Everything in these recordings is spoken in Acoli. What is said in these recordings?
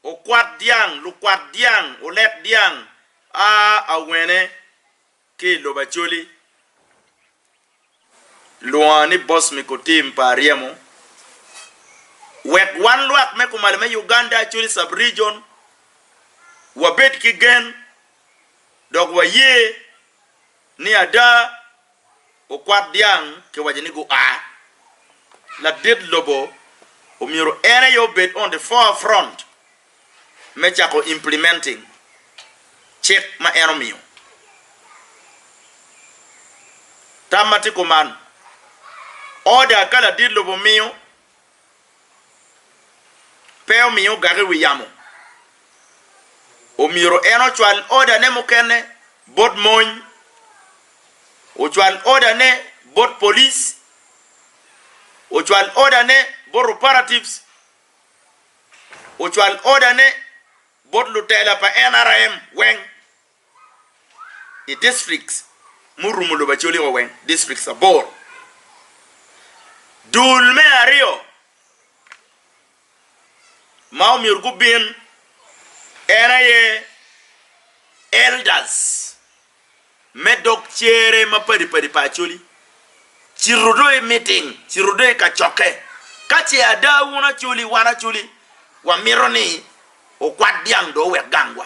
Okwat dyang, lukwat dyang, olek dyang a awene ki i lobo Acholi lwonga ni Bosmiko Tim pa Aryemo wek wan lwak me kumalo me Uganda Acholi Sub-Region wabed ki gen dok waye Ni ada, okwat dyang kiwaco ni gua. Ladit lobo omyero en aye obed on the forefront me cako implementing cik ma en omiyo. Tam ma tye kuman, order ka ladit lobo miyo, pe omiyo ogak i wi yamo, omyero en ocwal odane mukene bot mony, ocwal odane bot polic, ocwal odane bot operatives, ocwal odane bot lutela pa NRM weng. i districts murumo lobo Acoliko weng, districts aboro. Dul me aryo ma omyero gubin en aye elders me dog cere mapadi padi pa Acholi cito do i meeting, cito do i kacokke ka ce ada wun Acholi, wan Acholi wamito ni okwat dyang do owek gangwa.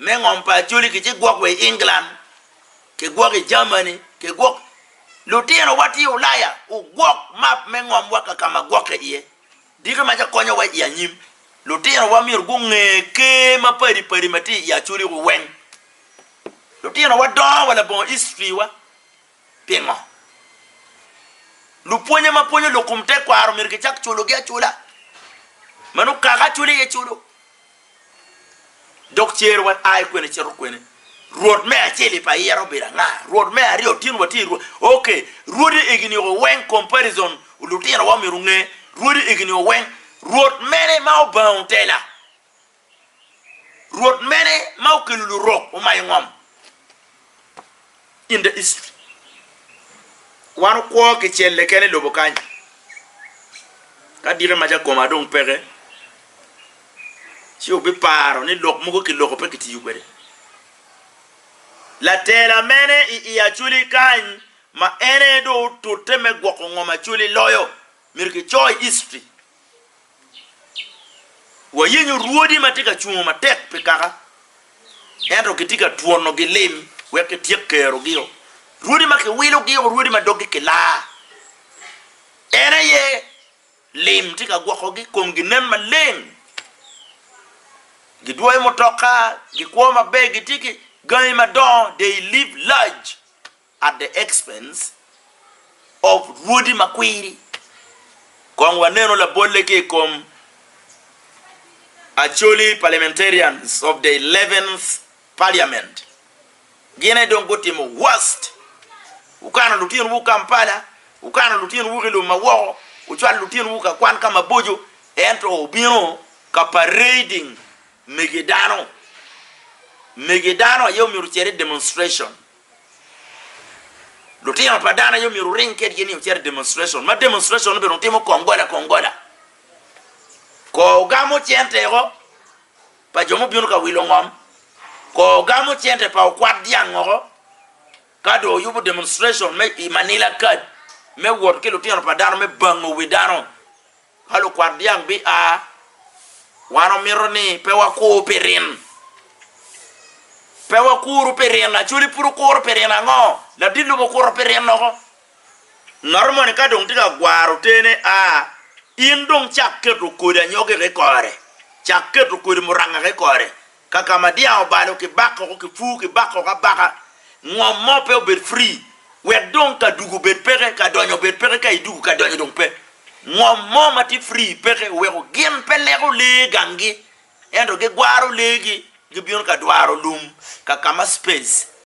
me ngom pa Acholi ki ci gwok wa i England, ki gwok i Germany, ki gwok lutino wa tye i Ulaya ogwok map me ngom wa ka kama gwokke iye diki ma ca konyo wa i anyim lutino wa myero gunge ker ma padi padi ma tye i Acholi weng lutino wa dongo wa labongo history wa. Pingo lupwonye ma pwonyo lok kom tekwaro omyero gicak culogi acula? Meno kaka acula iye culo. Dok cer wan a i kwene cito kwene? Rwot me acel i pa ira obedo anga? Rwot me aryo tin watye i rwot? Ok, rwodi eginio weng comparison lutinowa omyero onge rwodi eginio weng. Rwot mene ma obango tela? Rwot mene ma okelo lurok omayo ngom in the east? Wan okwo ki celle kene i lobo kany. Ka dike ma jakoma dong peke, ci wubiparo ni lok mogo kiloko pe kitiyo kwede. Latela mene i i Acoli kany ma en aye dong otute me gwoko ngom Acoli loyo? Myero kico i history. Wayenyo rwodi ma tye ka cungo matek pi kaka, ento kitye ka twonogi lim wek kityek kerogio, rwodi ma kiwilogio, rwodi ma doggi kilaa. En aye lim tye ka gwokogi, komgi nen maleng, gidwoyo mutoka, gikwo maber, gitye ki gangi madongo, they live large. at the expense of rwodi makwiri. Kong wanenu labolle ki i kom Acholi parliamentarians of the eleventh parliament. Gin aye dong gutimo worst. Wukano lutinowu Kampala, wukano lutinowu ki lum ma woko, wucwalo lutinowu ka kwan ka maboco, ento wubino ka parading mege dano. Mege dano aye omyero ocer i demonstration. Lutino pa dano aye myero wuring kwedgi ni wucit i demonstration, ma demonstration obedo wutimo kongola kongola. Kor wugamo cente woko pa jo mubino ka wilo ngom, kor wugamo cente pa wukwat dyang woko, ka dong wuyubo demonstration me i manila card me wot ki lutino pa dano me bango wi dano. Ka lukwat dyang bia, wan omito ni pe wakur pi rin. Pe wakuru pi rin. Acholi pud okuro pi rin ango? Ladit lum okuto pi rin loko. Ngat moni ka dong tye ka gwaro tene, a, in dong cak keto kodi anyogi ki i kore. Cak keto kodi muranga ki i kore. Ka ka ma dyang obalo ki bakoko ki pur ki bakoko abaka, ngom mo pe obed free wek dong ka dugu obed peke ka donyo obed peke ka idugu ka donyo dong pe. Ngom mo ma tye free peke weko gin pe leko lee gangi ento gigwaro lee gi gibino ka dwaro lum ka ka ma space.